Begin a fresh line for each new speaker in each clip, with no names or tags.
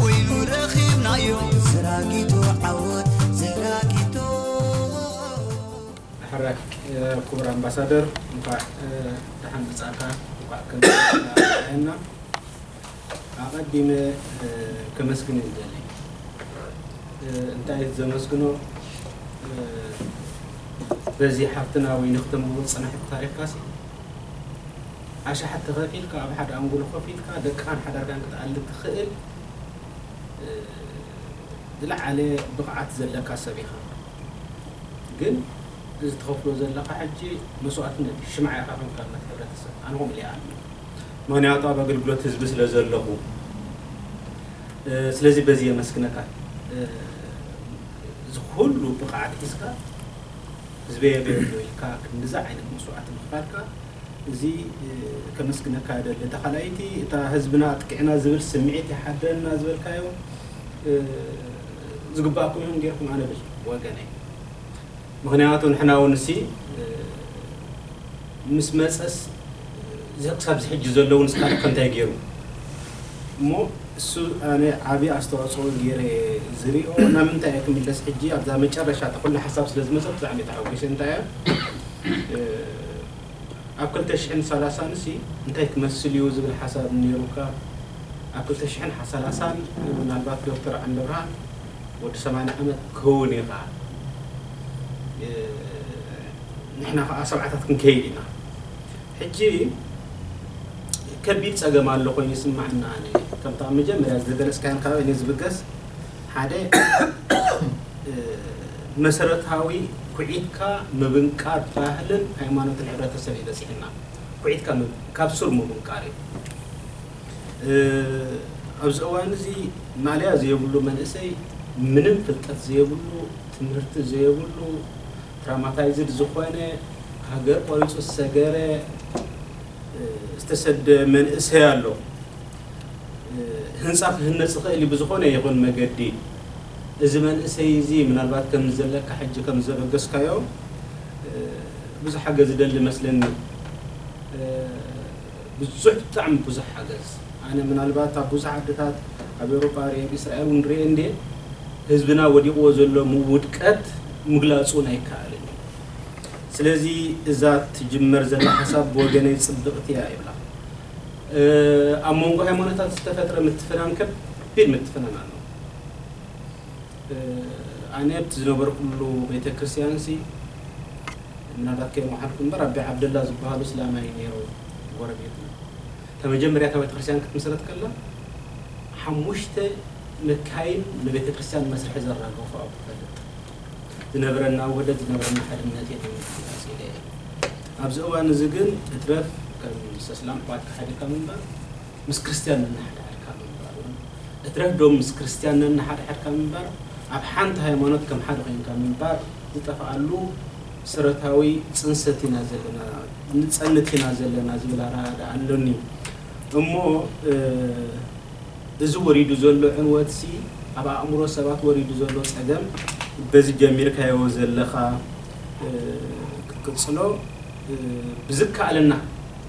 ኮይኑ ረኺብናዮ ዘራጊቶ ዓወት ዘራጊቶ። ንሓራቂ ኩቡር ኣምባሳደር እንኳዕ ዳሓን ምጻእካ እንኳዕ ከምዚ ኣርኣየና ኣቀዲመ ከመስግን ይደሊ እንታይ ዘመስግኖ በዚ ሓፍትና ወይኒ ክተንብቦ ዝጸናሕኪ ታሪኽካሲ ኣሽሓት ተኸፊልካ ኣብ ሓደ ኣንጎሎ ኮፍ ኢልካ ደቅኻን ሓዳርካን ክትኣሊ ትኽእል ዝለዓለ ብቕዓት ዘለካ ሰብ ኢኻ። ግን እዚ ትኸፍሎ ዘለኻ ሕጂ መስዋእትነት እዩ። ሽምዓ ኢኻ ከምቲ ኣብነት ሕብረተሰብ ኣነ ከምኡ ኢለ ይኣምን። ምኽንያቱ ኣብ ኣገልግሎት ህዝቢ ስለ ዘለኹ። ስለዚ በዚ የመስግነካ እዚ ኩሉ ብቕዓት ሒዝካ። ህዝበየ በ ኢልካ ክንድዚ ዓይነት መስዋእቲ ምኽፋልካ እዚ ከመስግነካ እደሊ። እታ ካልኣይቲ እታ ህዝብና ኣጥቂዕና ዝብል ስምዒት ይሓድረና ዝበልካዮ ዝግባኣኩም ኢኹም ጌርኩም ኣነ ብል ወገነይ ምኽንያቱ ንሕና ውን እሲ ምስ መጸስ እዚ ክሳብ እዚ ሕጂ ዘሎ እውን እስካለ ከ እንታይ ገይሩ እሞ እሱ ኣነ ዓቢ ኣስተዋጽኦ ገይረ እየ ዝሪኦ ናብ ምንታይ እየ ክምለስ ሕጂ ኣብዛ መጨረሻ እታ ኩላ ሓሳብ ስለ ዝመጸት ብጣዕሚ እየ ተሓጒሰ እንታይ እያ ኣብ ክልተ ሽሕን ሰላሳን እሲ እንታይ ክመስል እዩ ዝብል ሓሳብ ነይሩካ ኣብ ክልተ ሽሕን ሰላሳን ምናልባት ዶክተር ዓንደብርሃን ወዲ ሰማንያ ዓመት ክትከውን ኢኻ ንሕና ከኣ ሰብዓታት ክንከይድ ኢና ሕጂ ከቢድ ጸገም ኣሎ ኮይኑ ይስመዓኒ ኣነ ከምቲ ኣብ መጀመርያ ዝገለጽካዮን ካባይ ንዝብገስ ሓደ መሰረታዊ ኩዒትካ ምብንቃር ባህልን ሃይማኖትን ሕብረተሰብ እዩ በጺሕና ኩዒትካ ካብ ሱር ምብንቃር እዩ ኣብዚ እዋን እዚ ማልያ ዘየብሉ መንእሰይ ምንም ፍልጠት ዘየብሉ ትምህርቲ ዘየብሉ ትራማታይዝድ ዝኾነ ሃገር ቆሪጹ ዝሰገረ ዝተሰደ መንእሰይ ኣሎ ህንጻ ክህነጽ ይኽእል ብዝኾነ ይኹን መገዲ እዚ መንእሰይ እዚ ምናልባት ከም ዘለካ ሕጂ ከም ዘበገስካዮ ብዙሕ ሓገዝ ዝደሊ መስለኒ። ብዙሕ ብጣዕሚ ብዙሕ ሓገዝ ኣነ ምናልባት ኣብ ብዙሕ ዓድታት ኣብ ኤውሮጳ ርኤ ኣብ ኢስራኤል ውን ርኤ እንድየ ህዝብና ወዲቕዎ ዘሎ ምውድቀት ምግላጽ ውን ኣይከኣልን እዩ ስለዚ እዛ ትጅመር ዘላ ሓሳብ ብወገነይ ጽብቕቲ እያ ይብላ ኣብ መንጎ ሃይማኖታት ዝተፈጥረ ምትፍናን ከቢድ ምትፍናን ኣሎ ኣነ ኣብቲ ዝነበርኩሉ ቤተክርስቲያንሲ ምናልባት ከይመሓልኩ እምበር ኣቢ ዓብደላ ዝብሃሉ እስላማይ ነይሩ ጎረቤትና እታ መጀመርያ እታ ቤተክርስትያን ክትምስረት ከላ ሓሙሽተ መካይን ንቤተክርስትያን መስርሒ ዘራገፉ ኣብ ክፈልጥ ዝነብረና ወደት ዝነብረና ሓድነት እየ ተይለ ክገልፅ ኢለ እየ ኣብዚ እዋን እዚ ግን እትረፍ ከም ሰስላም ኣሕዋትካ ሓቢርካ ምንባር ምስ ክርስትያን ነንሓድሕድካ ምንባር ውን እትረፍ ዶ ምስ ክርስትያን ነንሓድሕድካ ምንባር ኣብ ሓንቲ ሃይማኖት ከም ሓደ ኮይንካ ምንባር ዝጠፍኣሉ ሰረታዊ ጽንሰት ኢና ዘለና ንጸንት ኢና ዘለና ዝብል ኣረኣእዳ ኣሎኒ እሞ እዚ ወሪዱ ዘሎ ዕንወት ሲ ኣብ ኣእምሮ ሰባት ወሪዱ ዘሎ ጸገም በዚ ጀሚርካዮ ዘለኻ ክትቅጽሎ ብዝከኣለና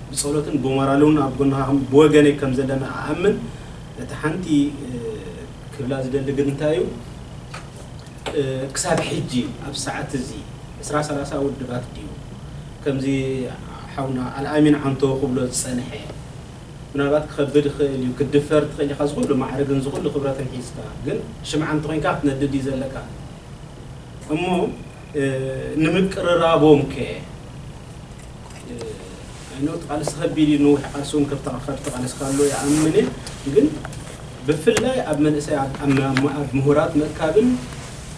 ብጸሎትን ብሞራልውን ኣብ ጎንኻ ብወገነይ ከም ዘለና እኣምን እቲ ሓንቲ ክብላ ዝደሊ ግን እንታይ እዩ ክሳብ ሕጂ ኣብዚ ሰዓት እዚ ዕስራ ሰላሳ ውድባት ድዩ ከምዚ ሓውና ኣልኣሚን ዓንቶ ክብሎ ዝጸንሐ ምናልባት ክኸብድ ይኽእል እዩ ክትድፈር ትኽእል ኢኻ እዚ ኩሉ ማዕርግን እዚ ኩሉ ክብረትን ሒዝካ ግን ሽምዓ እንተኾይንካ ክትነድድ እዩ ዘለካ እሞ ንምቅርራቦምከ ኣይ ኖው እቲ ቃልሲ ከቢድ እዩ ንውሕ ቃልሲ እውን ከብተካ ካብ ዝተቃለስካ ኣሎ ይኣምን እየ ግን ብፍላይ ኣብ መንእሰይ ኣብ ምሁራት ምእካብን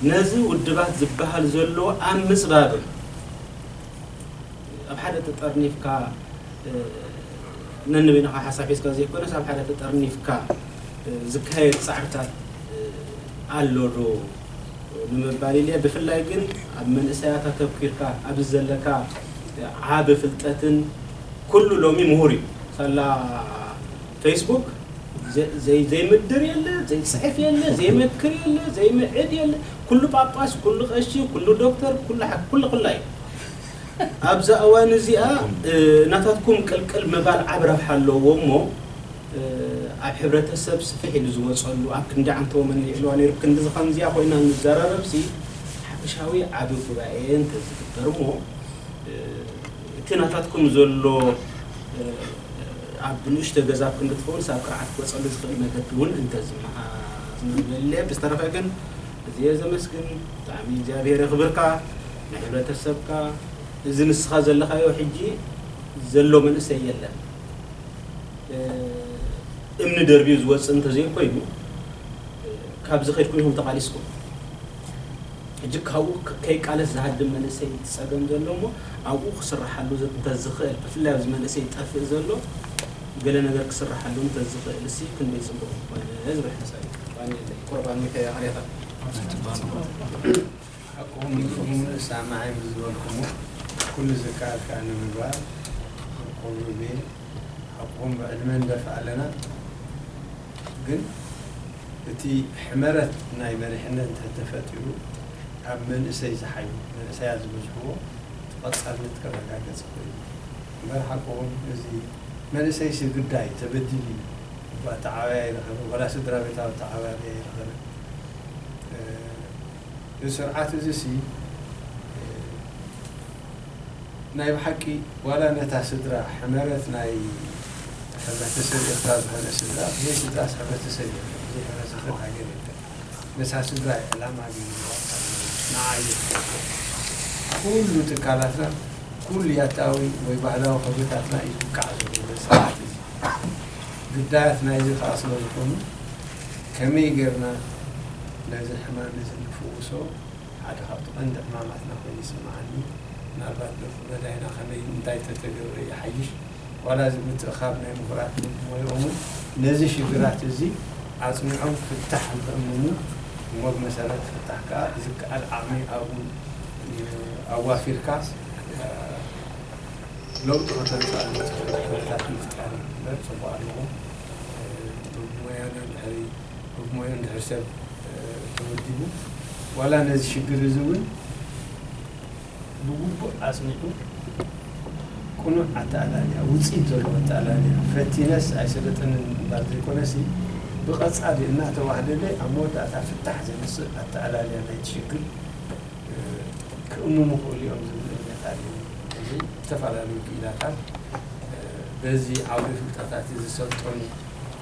ነዚ ውድባት ዝበሃል ዘሎ ኣብ ምፅባብን ኣብ ሓደ ተጠርኒፍካ ነንበይንኻ ሓሳብ ሒዝካ ዘይኮነስ ኣብ ሓደ ተጠርኒፍካ ዝካየድ ፃዕርታት ኣሎ ዶ ንምባል ኢለ ብፍላይ ግን ኣብ መንእሰያት ኣተኩርካ ኣብዚ ዘለካ ዓቢ ፍልጠትን ኩሉ ሎሚ ምሁር እዩ ሳላ ፈይስቡክ ዘይምድር የለ ዘይጽሕፍ የለ ዘይመክር የለ ዘይምዕድ የለ ኩሉ ጳጳስ ኩሉ ቀሺ ኩሉ ዶክተር ኩሉ ሓኪም ኩሉ ኩላ እዩ ኣብዛ እዋን እዚኣ ናታትኩም ቅልቅል ምባል ዓቢ ረብሓ ኣለዎ እሞ ኣብ ሕብረተሰብ ስፍሕ ኢሉ ዝወጸሉ ኣብ ክንዲ ዓንተቦ መን የልዕልዋ ነይሩ ክንድዚ ከምዚኣ ኮይና እንዘራረብሲ ሓፈሻዊ ዓቢ ጉባኤ እንተዝግበር እሞ እቲ ናታትኩም ዘሎ ኣብ ንእሽቶ ገዛ ኣብ ክንዲ ትኸውንስ ኣብ ቅርዓት ክወጸሉ ዝኽእል መገዲ ውን እንተዝመሃዝ ምበለ ብዝተረፈ ግን እዝየ ዘመስግን ብጣዕሚ እግዚኣብሔር የኽብርካ ንሕብረተሰብካ እዚ ንስኻ ዘለኻዮ ሕጂ ዘሎ መንእሰይ የለን እምኒ ደርብዩ ዝወፅእ እንተዘይኮይኑ ካብዚ ከድኩም ኢኹም ተቓሊስኩም ሕጂ ካብኡ ከይቃለስ ዝሃድም መንእሰይ ፀገም ዘሎ እሞ ኣብኡ ክስራሓሉ እንተዝኽእል ብፍላይ ኣብዚ መንእሰይ ጠፍእ ዘሎ ገለ ነገር ክስራሓሉ እንተዝኽእል እሲ ክንደይ ፅቡቕ ምኾነ ዝብል ሓሳብ እዩ። ቁረብ ኣንሚተ ኣርያታ
ሓቅኹም ኢኹም ንእሳማዒ ብዝበልኩሞ ኩሉ ዝከኣልካ ንምግባር ቁሩብ እየ ሓቅኹም ብዕድመ ንደፍእ ኣለና ግን እቲ ሕመረት ናይ መሪሕነት እንተ ተፈጢሩ ኣብ መንእሰይ ዝሓዩ መንእሰያት ዝበዝሕዎ እቲ ቀጻልነት ከረጋገጽ ይኽእል እዩ እምበር ሓቅኹም እዚ መንእሰይሲ ግዳይ ተበዲሉ እዩ እባ ኣተዓባብያ ኣይረኸበን ወላ ስድራቤታዊ ኣተዓባብያ ኣይረኸበን። እዚ ስርዓት እዚሲ ናይ ብሓቂ ዋላ ነታ ስድራ ሕመረት ናይ ሕብረተሰብ ኤርትራ ዝኾነ ስድራ ብዘይ ስድራስ ሕብረተሰብ የለን ብዘይ ሕብረተሰብ ሃገር የለን ነታ ስድራ እዩ ዕላማ ገይርዋ ዝጸንሕ ንዓ እዩ ዝሕግዝ ኩሉ ትካላትና ኩሉ ያታዊ ወይ ባህላዊ ክብርታትና እዩ ዝውቃዕ ዘሎ በዚ ስርዓት እዚ ግዳያት ናይዚ ከኣ ስለዝኾኑ ከመይ ጌርና ነዚ ሕማም እዚ ንፍውሶ ሓደ ካብቲ ቀንዲ ዕማማትና ኮይኑ ይስምዓኒ ምናልባት ደርፊ መዳይና ከመይ እንታይ ተተገብረ ይሓይሽ ዋላ እዚ ምትእኻብ ናይ ምሁራት ልምዲ ሞይኦም ውን ነዚ ሽግራት እዚ ኣጽኒዖም ፍታሕ ንክእምሙ እሞ ብመሰረት ፍታሕ ከኣ ብዝከኣል ዓቕሚ ኣብኡ ኣዋፊርካ ለውጢ ከተምጽኣሉ ትኽእል ኩነታት ምፍጣር እዩ እምበር ጽቡቕ ኣለዎ። እቶም ሞያና እንድሕሪ ብ ሞያ እንድሕሪ ሰብ ተወዲቡ ዋላ ነዚ ሽግር እዚ እውን ብግቡእ ኣፅኒዑ ቅኑዕ ኣተኣላልያ ውፅኢት ዘለዎ ኣተኣላልያ ፈቲነስ ኣይሰለጠንን ምባል ዘይኮነሲ ብቐፃሊ እናተዋህለለ ኣብ መወዳእታ ፍታሕ ዘምፅእ ኣተኣላልያ ናይቲ ሽግር ክእምሙ ይኽእሉ እዮም ዝብል እምነት ኣለኒ። ሕዚ ዝተፈላለዩ ክኢላታት በዚ ዓውደ ፍልጠታት'ዚ ዝሰልጠኑ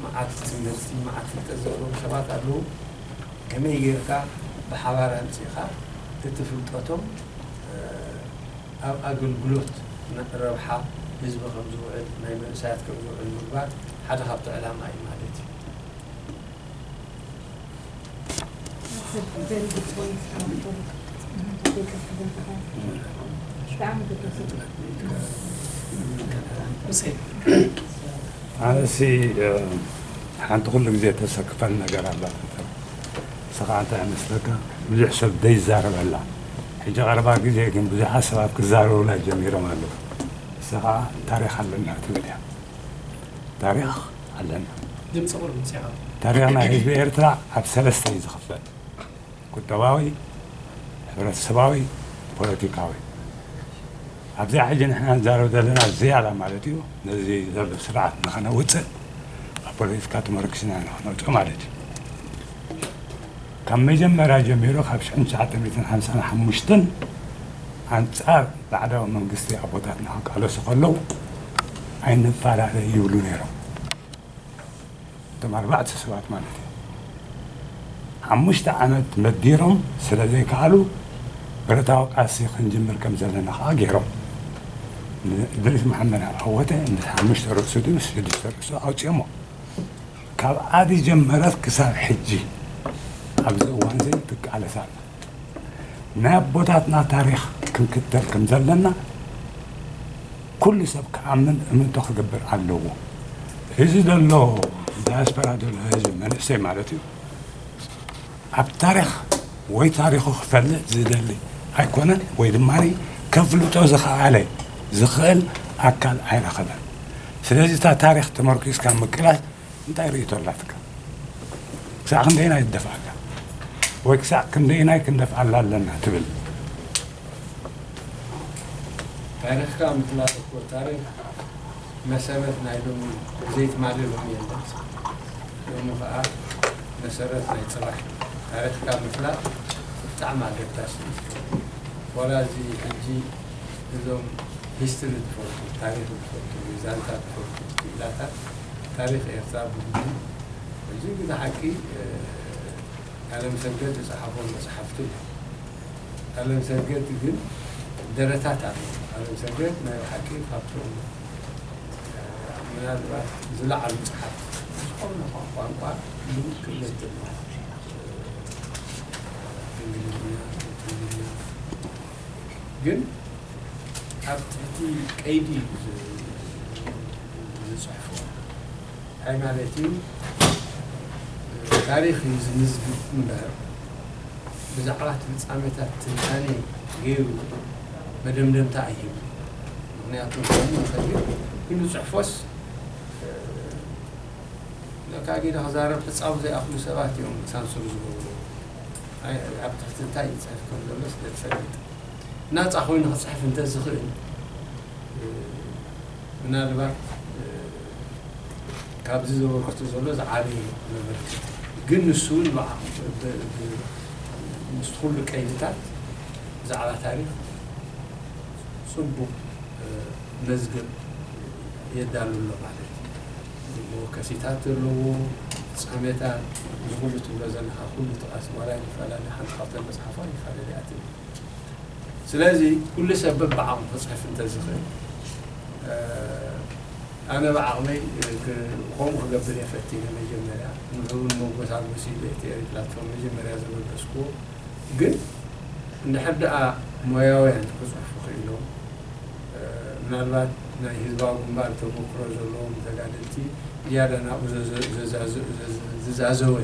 መዓት ትምህርቲ መዓት ፍልጠት ዘለዎም ሰባት ኣለዉ። ከመይ ጌርካ ብሓባር ኣምጺእኻ እቲ ፍልጠቶም ኣብ ኣገልግሎት ረብሓ ህዝቢ ከም ዝውዕል ናይ መንእሰያት ከም ዝውዕል ምግባር ሓደ ካብቲ ዕላማ እዩ ማለት እዩ።
ኣነሲ ሓንቲ ኩሉ ግዜ ተሰክፈን ነገር ኣላ ንስኻ እንታይ ይመስለካ ብዙሕ ሰብ ዘይዛረበላ ሕጂ ቀረባ ግዜ ግን ብዙሓት ሰባት ክዛረቡላ ጀሚሮም ኣለዉ እሳ ከዓ ታሪክ ኣለና ትብል እያ ታሪክ ኣለና። ድምጺ
ቁሩብ ውጽእ በል። ተሪኽ ናይ ህዝቢ
ኤርትራ ኣብ ሰለስተ እዩ ዝኽፈል፣ ቁጠባዊ፣ ሕብረተሰባዊ፣ ፖለቲካዊ። ኣብዚኣ ሕጂ ንሕና ንዛረብ ዘለና ዝያዳ ማለት እዩ ነዚ ዘሎ ስርዓት ንኸነውጽእ ኣብ ፖለቲካ ተመርኲስና ኢና ክነውጽኦ ማለት እዩ። ካብ መጀመርያ ጀሚሩ ካብ ሽሕን ትሽዓተ ሚእትን ሓምሳን ሓሙሽተን ኣንጻር ባዕዳዊ መንግስቲ ኣቦታትና ክቃለሱ ከለዉ ኣይንፋላለ ይብሉ ነይሮም። እቶም ኣርባዕተ ሰባት ማለት እዩ። ሓሙሽተ ዓመት መዲሮም ስለ ዘይከኣሉ ብረታዊ ቃልሲ ክንጅምር ከም ዘለና ከኣ ገይሮም። ንእድሪስ መሓመድ ዓወተ ምስ ሓሙሽተ ርእሱ ድዩ ምስ ሽዱሽተ ርእሱ ኣውጺኦሞ። ካብ ዓዲ ጀመረት ክሳብ ሕጂ ኣብዚ እዋንዚ ትቃለስ ኣላ። ናይ ኣቦታትና ታሪኽ ክንክተል ከም ዘለና ኩሉ ሰብ ክኣምን እምንቶ ክገብር ኣለዎ። እዚ ዘሎ ዳያስፖራ ዘሎ ህዝቢ መንእሰይ ማለት እዩ። ኣብ ታሪኽ ወይ ታሪኹ ክፈልጥ ዝደሊ ኣይኮነን ወይ ድማ ከፍልጦ ዝኸኣለ፣ ዝኽእል፣ ኣካል ኣይረኸበን። ስለዚ እታ ታሪኽ ተመርኲስካ ምቅላስ እንታይ ርእይቶ ኣላትካ? ክሳዕ ክንደየናይ ትደፍኣላ ወይ ክሳዕ ክንደየናይ ክንደፍኣላ ኣለና ትብል? ታሪኽካ ምፍላጥ
እኮ ታሪኽ። መሰረት ናይ ሎሚ ብዘይ ትማሊ ሎሚ የለን ስለዚ ሎሚ ከኣ መሰረት ናይ ጽባሕ ታሪኽካ ምፍላጥ ብጣዕሚ ኣገዳሲ እዩ ስለዚ ዋላ እዚ ሕጂ እዞም ሂስትሪ ዝፈልጡ ታሪኽ ዝፈልጡ ወይ ዛንታ ዝፈልጡ ክኢላታት ታሪኽ ኤርትራ ብግቡእ እዚ ግደ ሓቂ ኣለምሰገድ ዝጸሓፎም መጽሓፍቲ ኣሎ። ኣለምሰገድ ግን ደረታት ኣለዎ ኣለምሰገድ ናይ ብሓቂ ካብቶም ምናልባት ዝለዓሉ ጸሓፍቲ ዝኾነ ኳ ቋንቋ ብውቅነት ድማ እንግሊዝኛ ትግርኛ ግን ኣብ ትሕቲ ቀይዲ ዝጽሕፎ ኣይ ማለት እዩ ታሪኽ እዩ ዝምዝግብ እምበር ብዛዕባ እቲ ፍጻሜታት ትንታነ ገይሩ መደምደምታ ኣይህብን። ምኽንያቱ ክኸውን ይኽእል እዩ፣ ኢሉ ጽሑፎስ ለካ ጊደ ክዛረብ ሕጻቡ ዘይኣኽሉ ሰባት እዮም ሳንሱር ዝገብሩ። ኣይ ኣብ ትሕቲ እንታይ ይጽሕፍ ከም ዘሎስ ዘይፈልጥ ናጻ ኮይኑ ክጽሕፍ እንተዝኽእል ምናልባት ካብዚ ዘበርክቶ ዘሎ ዝዓበየ ዘበርክት ግን ንሱ ውን ምስቲ ኩሉ ቀይድታት ብዛዕባ ታሪኽ ጽቡቕ መዝገብ የዳሉ ኣሎ ማለት እዩ። መወከሲታት ዘለዎ ጸሜታት እዚ ኩሉ ትብሎ ዘለኻ ኩሉ ጥቐስ ዋላ ይፈላለ ሓንቲ ካብተን መጽሓፍ ውን ይፈላለ እያ ትብል ስለዚ ኩሉ ሰብ በብዓቕሙ ክጽሕፍ እንተዝኽእል። ኣነ ብዓቕመይ ከምኡ ክገብር እየ ፈቲነ መጀመርያ ንዑኡ ንመጎሳጎሲ ብኤቲኤሪ ፕላትፎርም መጀመርያ ዘበገስክዎ ግን እንድሕር ድኣ ሞያውያን ክጽሕፉ ክኢሎም ምናልባት ናይ ህዝባዊ ግንባር ተመክሮ ዘለዎም ተጋደልቲ ዝያዳ ናብኡ ዝዛዘወ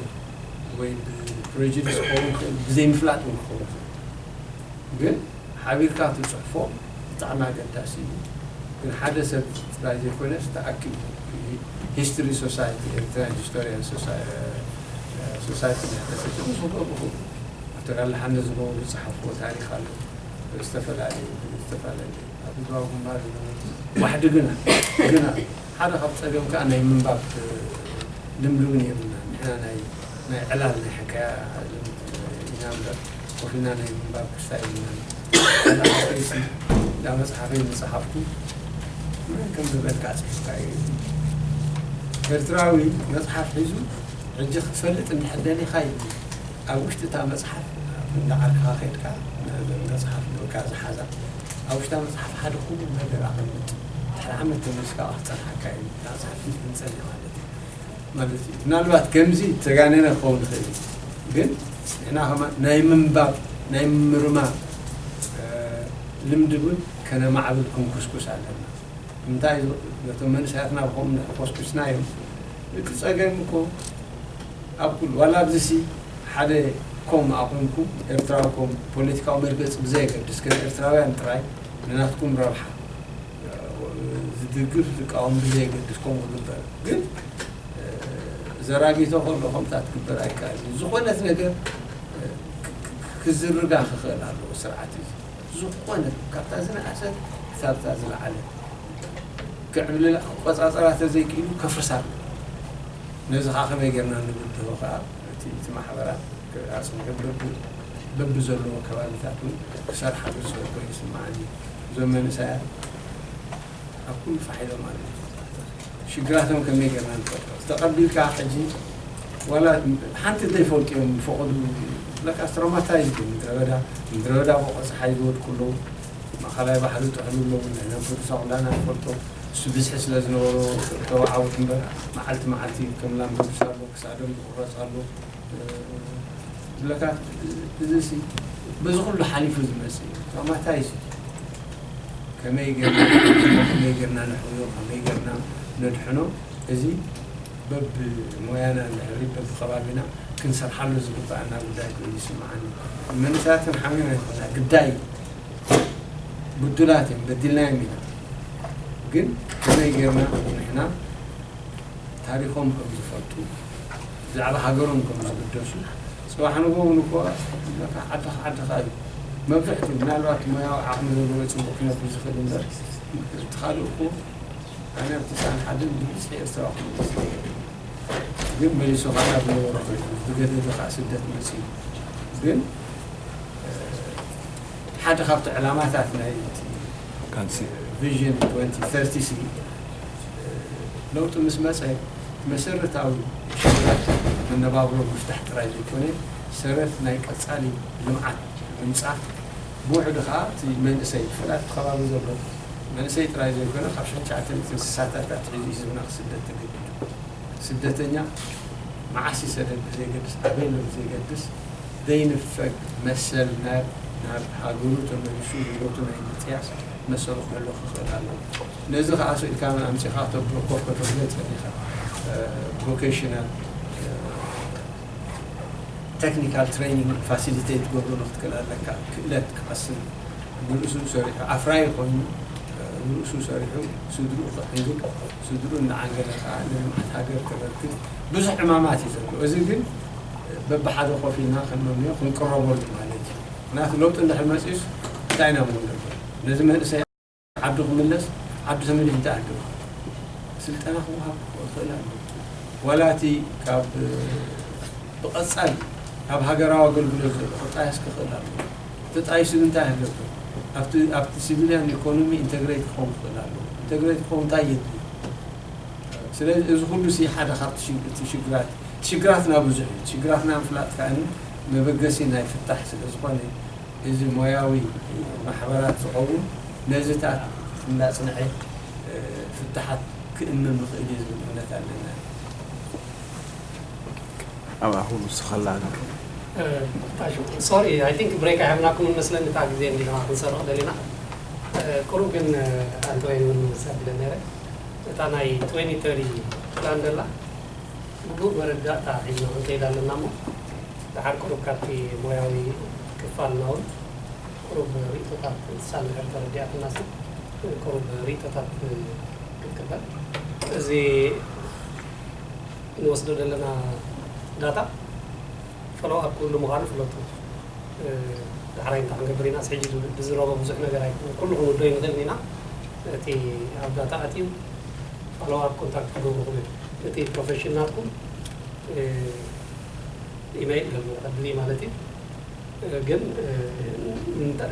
ወይ ብ prejudice ክኸውን ይኽእል ብዘይምፍላጥ ውን ክኸውን ይኽእል ግን ሓቢርካ ትጽሕፎ ብጣዕሚ ኣገዳሲ ኢዩ ግን ሓደ ሰብ ጥራይ ዘይኮነስ ተኣኪቡ ሂስትሪ ሶሳይቲ ኤሪትራን ሂስቶርያን ሶሳይቲ ንሕተሰቲ ምስ ክገብርኩም ዶክተር ኣለሓነ ዝገብሩ ዝጸሓፍዎ ታሪኽ ኣሎ ዝተፈላለዩ ዝተፋለለዩ ኣብ ህዝባዊ ግንባር ዝነበሩ ዋሕዲ ግና ግና ሓደ ካብ ጸገም ከኣ ናይ ምንባብ ልምዲ እውን የብልናን። ንሕና ናይ ናይ ዕላል ናይ ሕካያ ልምዲ ኢና እምበር ኮፍ ኢልና ናይ ምንባብ ክስታ የብልናን። ሓደ ሓወይሲ እታ መጽሓፈይ ምስ ጸሓፍኩ መን ከምዘበልካ ጽሒፍካዮ ኢሉኒ። ኤርትራዊ መጽሓፍ ሒዙ ሕጂ ክትፈልጥ እንድሕር ደሊኻ ኢሉኒ። ኣብ ውሽጢ እታ መጽሓፍ እንዳ ዓርክኻ ከይድካ መጽሓፍ በቃ ዝሓዛ ኣብ ውሽጣ መጽሓፍ ሓደ ክቡር ነገር ኣቐምጥ። ድሕሪ ዓመት ተመልስካ ክፀንሓካ እዩ ኢልካ ፅሑፍ እንትንፀን እዩ ማለት እዩ ማለት እዩ ምናልባት ከምዚ ተጋነነ ክኸውን ይኽእል እዩ ግን ንሕና ከማ ናይ ምንባብ ናይ ምምርማር ልምዲ እውን ከነማዕብል ክንኩስኩስ ኣለና እንታይ ነቶም መንእሰያትና ብከምኡ እንድሕር ኮስኩስና እዮም እቲ ፀገም እኮ ኣብ ኩሉ ዋላ ኣብዚሲ ሓደ ኮም ኣቑምኩም ኤርትራዊ ኮም ፖለቲካዊ መርገፂ ብዘየገድስ ከም ኤርትራውያን ጥራይ ንናትኩም ረብሓ ዝድግፍ ዝቃወም ብዘየገድስ ከምኡ ክግበር ግን ዘራጊቶ ከሎ ከምታ ትግበር ኣይካል ዝኾነት ነገር ክዝርጋ ክኽእል ኣለዎ ስርዓት እዩ ዝኾነት ካብታ ዝነኣሰት ክሳብታ ዝለዓለት ክዕብልላ ቆፃፀራ ተዘይክኢሉ ከፍርሳ ኣለዎ ነዚ ከዓ ከመይ ጌርና ንብድሆ ከዓ እቲ ማሕበራት ኣፅኒዑ በቢዘለዎ ከባቢታት እውን ክሰርሓሉ ዝኽእል ኮይኑ ይስመዓኒ እዩ። እዞም መንእሰያት ኣብ ኩሉ ፋሕ ኢሎም ኣለዉ። ሽግራቶም ከመይ ጌርና ንፈልጦ? ተቐቢልካ ሕጂ ዋላ ሓንቲ እንተይፈልጡ እዮም ዝፈቐዱ ለካስ ትሮማታይዝድ እዮም። ምድረበዳ ምድረበዳ ቦቆ ፀሓይ ዝወድቁ ኣለዉ። ማእኸላይ ባሕሪ ዝጥሕሉ ኣለዉ። ንሕና ብቅዱሳን ኩላና ንፈልጦ እሱ ብዝሒ ስለ ዝነበሮ ተወዓውት እምበር መዓልቲ መዓልቲ ከም ላምበዱሳ ኣሎ ክሳዶም ዝቑረፅ ኣሎ። ዝብለካ እዚሲ በዚ ኩሉ ሓሊፉ ዝመጽእ እዩ ቶማታይ ሲ ከመይ ጌርና ከመይ ጌርና ነሕውዮ ከመይ ጌርና ነድሕኖ እዚ በብ ሞያና ድሕሪ በብ ከባቢና ክንሰርሓሉ ዝግባኣና ጉዳይ ኮይኑ ይስምዓኒ መንእሰያትን ሓሚና ይኮና ግዳይ ብዱላት እዮም በዲልናዮም ኢና ግን ከመይ ጌርና ንሕና ታሪኮም ከም ዝፈልጡ ብዛዕባ ሃገሮም ከም ዝግደሱ ጽባሕ ንግሆ ውን እኮ ለካ ዓዲ ዓዲ ከኣ እዩ መብዝሕትኡ ምናልባት ሞያዊ ዓቅሚ ዘለዎ ጽቡቅ ክነብር ዝክእል እንበር እቲ ካልእ እኮ ኣነ ትስዓን ሓደን ብብዝሒ ኤርትራዊ ክመጽእ ዝደልየ ነይሩ ግን መሊሱ ከኣ ናብ ዝነበሮ ከይዱ ብገደደ ከኣ ስደት መጽዩ ግን ሓደ ካብቲ ዕላማታት ናይ
ቃልሲ ቪዥን
2030 ለውጢ ምስ መጸ መሰረታዊ ሽግራት መነባብሮ ምፍታሕ ጥራይ ዘይኮነ፣ ሰረት ናይ ቀጻሊ ልምዓት ምምጻእ፣ ብውሕዱ ከኣ እቲ መንእሰይ፣ ብፍላይ ኣብቲ ከባቢ ዘሎ መንእሰይ ጥራይ ዘይኮነ፣ ካብ ሸድሸዓተ ሚእቲ እንስሳታት ኣትሒዙ ህዝብና ክስደድ ተገዲዱ። ስደተኛ መዓስ ይሰደድ ብዘይገድስ፣ ኣበይ'ሎ ብዘይገድስ፣ ዘይንፈግ መሰል ናብ ናብ ሃገሩ ተመሊሱ ህይወቱ ናይ ምጥያስ መሰሉ ክህሎ ክኽእል ኣለዎ። ነዚ ከኣ ስእልካ ኣምጺኻ ክተብርኮ ከተብለጸ ኢኻ ቮኬሽናል ተክኒካል ትሬኒንግ ፋሲሊቴት ክትገብሮ ንክትክእል ኣለካ ክእለት ክቐስም ንርእሱ ሰሪሑ ኣፍራይ ኮይኑ ንርእሱ ሰሪሑ ስድርኡ ክዕንግል ስድርኡ እናዓንገለ ከኣ ንልምዓት ሃገር ከበርክት ብዙሕ ዕማማት እዩ ዘሎ እዚ ግን በብሓደ ኮፍ ኢልና ክንመምዮ ክንቅረበሉ ማለት እዩ ምክንያቱ ለውጢ እንድሕር መጺኡስ እንታይ ኢና ምንገብር ነዚ መንእሰይ ዓዱ ክምለስ ዓዱ ተመሊሱ እንታይ ኣለዎ ስልጠና ክወሃብ ክኽእል ኣለዎ ዋላ እቲ ካብ ብቐጻሊ ካብ ሃገራዊ ኣገልግሎት ዘሎ ክጣየስ ክኽእል ኣለዎ ተጣይሱ እንታይ ኣለዎ ኣብቲ ኣብቲ ሲቪልያን ኢኮኖሚ ኢንተግሬት ክኸውን ክኽእል ኣለዎ ኢንተግሬት ክኸውን እንታይ የድሊ ስለዚ እዚ ኩሉ ሲ ሓደ ካብቲ እቲ ሽግራት ሽግራትና ብዙሕ እዩ ሽግራትና ምፍላጥ ከኣ መበገሲ ናይ ፍታሕ ስለ ዝኾነ እዚ ሞያዊ ማሕበራት ዝኸውን ነዚታት እናጽንዔ ፍታሓት ክእምም ይኽእል እዩ ዝብል እምነት ኣለና።
ኣብ ኣኹም ንስኻላ ኣነኹም። ጣሹ
ሶሪ ኣይ ቲንክ ብሬክ ኣይሃብናኩምን መስለኒ እታ ግዜ እንዲና ክንሰርቕ ደሊና ቁሩብ ግን ኣንተ ወይን እውን ምውሳድ ይደሊ ነይረ እታ ናይ ትወኒ ተሪ ፕላን ደላ ግቡእ መረዳእታ ሒዝና ክንከይድ ኣለና እሞ ደሓር ቁሩብ ካብቲ ሞያዊ ክፋልና እውን ቁሩብ ሪኢቶታት ንሳ እንድሕር ተረዲኣትናሲ ቁሩብ ሪኢቶታት ክንቅበል እዚ እንወስዶ ዘለና ዳታ ፎሎው ኣፕ ክህሉ ምዃኑ ፍለጡ ዳሕራይ እንታይ ክንገብር ኢናስ ሕጂ ብዝረቦ ብዙሕ ነገር ኣይኮነን ኩሉ ክንውደዮ ንኽእል ኢና ነቲ ኣብ ዳታ ኣትዩ ፎሎው ኣፕ ኮንታክት ክገብርኹም እዮም። እቲ ፕሮፌሽን ናትኩም ኢመይል ገሉ ኣድሊ ማለት እዩ ግን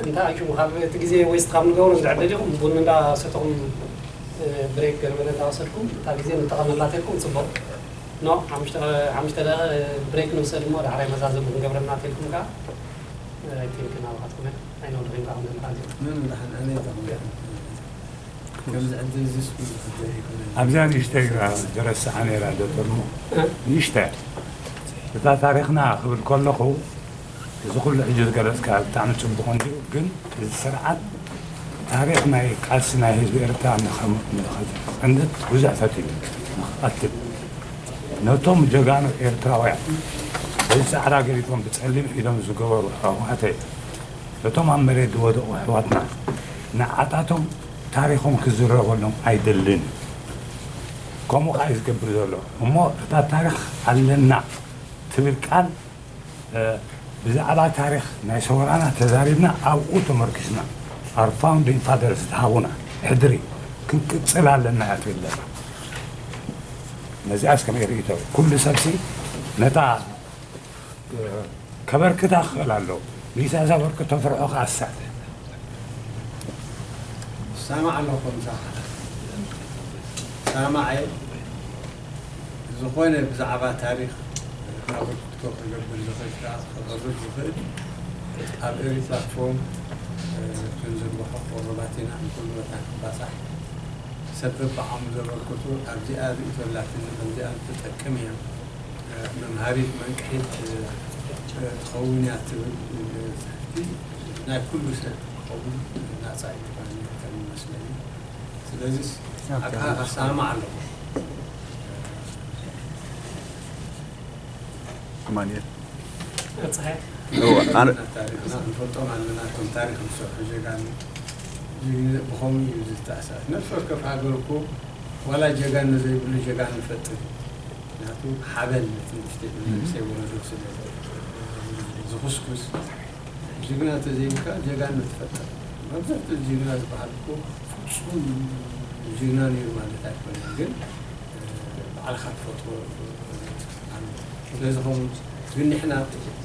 እንታይ ኣዩ ካብ እቲ ግዜ ወይስ ካብ ንገብሮ ዝዕደል ኢኹም ቡን እንዳሰተኹም ብሬክ ገርበለ እንዳወሰድኩም እታ ግዜ ንጠቐመላተልኩም ፅቡቕ ኖ ሓሙሽተ ደቂቐ ብሬክ ንውሰድ እሞ ዳሕራይ መዛዘሙ ክንገብረና ተልኩም ከዓ ኣይቲንክ ናባኻትኩም እያ
ኣይኖ ድሕሪት ኣኹም
ዘምሓዝ እዩ። ምንም ዳሓን ኣነ እየ ዳኹም ዳሓን ከምዚ ዕድል እዚስ ኩሉ ዝግበር ኣይኮነን። ኣብዚኣ ንእሽተይ ግና ዝረስዓ ነይራ ዶቶርሞ ንእሽተይ እታ ታሪኽና ክብል ከለኹ እዚ ኩሉ ሕጂ ዝገለጽካ ብጣዕሚ ጽቡቕ እንድዩ ግን እዚ ስርዓት ታሪኽ ናይ ቃልሲ ናይ ህዝቢ ኤርትራ ንኸጽንት ብዙሕ ፈቲኑ ንኽቐትል ነቶም ጀጋኑ ኤርትራውያን በዚ ጻዕዳ ገዲፎም ብጸሊም ኢዶም ዝገበሩ ኣሕዋተይ እቶም ኣብ መሬት ዝወደቁ ኣሕዋትና ንዓታቶም ታሪኮም ክዝረበሎም ኣይደልን እዩ ከምኡ ከኣ እዩ ዝገብር ዘሎ እሞ እታ ታሪክ ኣለና ትብል ቃል ብዛዕባ ታሪክ ናይ ሰውራና ተዛሪብና ኣብኡ ተመርኪስና our founding fathers ዝሃቡና ሕድሪ ክንቅጽል ኣለና እያ ትብል ዘላ ነዚኣስ ከመይ ርእይቶ ኩሉ ሰብሲ ነታ ከበርክታ ክኽእል ኣለዎ ሊሳ ዘበርክቶ ፍርሑ ክኣስር
ሳማዕ ኣለኹ ምሳኻ ሳማዕ ዝኾነ ብዛዕባ ታሪክ ኣበርክቶ ክገብር ዝኽእል ከዓ ክቐርብ ዝኽእል ኣብ ኤሪ ፕላትፎርም ክንዝርግሖ ቆረባት ኢና ንኩሉ ቦታ ክባፃሕ ሰብ በብዓቕሙ ዘበርክቱ ኣብዚኣ ርእቶላትኒ ከምዚኣ ትጠቅም እያ መምሃሪት መንቅሒት ትኸውን እያ ትብል መጽሕፍቲ ናይ ኩሉ ሰብ ክኸውን ናጻ እዩ ባኒ ከም ዝመስለኒ ስለዚ ኣካ ኣሳማማዕ ኣለኹ። ኣማኒኤል
ታሪክና ክንፈልጦም
ኣለና እቶም ታሪክ ዝሰርሑ ጀጋኑ ብከምኡ እዩ ዝተኣሳስ ነፍሲ ወከፍ ሃገር እኮ ዋላ ጀጋኑ ዘይብሉ ጀጋኑ ይፈጥር እዩ። ምክንያቱ ሓበን ነቲ ንእሽተይ መንእሰይ ወለዶ ስለ ዝኹስኩስ ጅግና ተዘይብልካ ጀጋኑ ትፈጥር መብዛሕትኡ ጅግና ዝበሃል እኮ ፍፁም ጅግና ነይሩ ማለት ኣይኮነን ግን ባዕልኻ ትፈጥሮ ኣሎ ስለዚ ከምኡ ግን ንሕና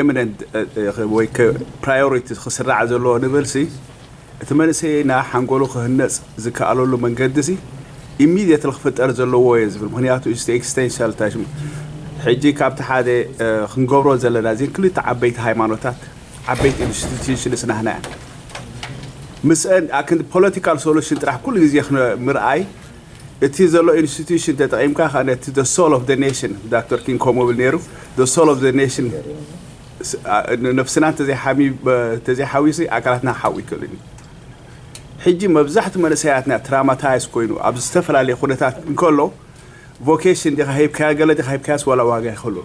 ኤሚነንት ወይ ፕራዮሪቲ ክስራዕ ዘለዎ ንብልሲ እቲ መንእሰይና ሓንጎሉ ክህነፅ ዝከኣለሉ መንገዲሲ ኢሚድየትሊ ክፍጠር ዘለዎ እየ ዝብል ምክንያቱ ኢስቲ ኤክስቴንሻል ታሽም ሕጂ ካብቲ ሓደ ክንገብሮ ዘለና እዚን ክልተ ዓበይቲ ሃይማኖታት ዓበይቲ ኢንስቲትዩሽንስ ናህና እያ ምስአን ኣክንዲ ፖለቲካል ሶሉሽን ጥራሕ ኩሉ ግዜ ምርኣይ እቲ ዘሎ ኢንስቲትዩሽን ተጠቒምካ ከኣ ነቲ the soul of the nation ዳክተር ኪንግ ከምኡ ይብል ነይሩ the soul of the nation ስ- ኣ- ን- ነፍስና እንተዘይሓሚ ተዘይሓዊሲ ኣካላትና ክሓዊ ይክእልን እዩ ሕጂ መብዛሕትኡ መንእሰያትና ትራማታይዝ ኮይኑ ኣብ ዝተፈላለየ ኩነታት እንከሎ ቮኬሽን ዲኻ ሂብካዮ ገለ ዲኻ ሂብካዮስ ዋላ ዋጋ ይኸሉ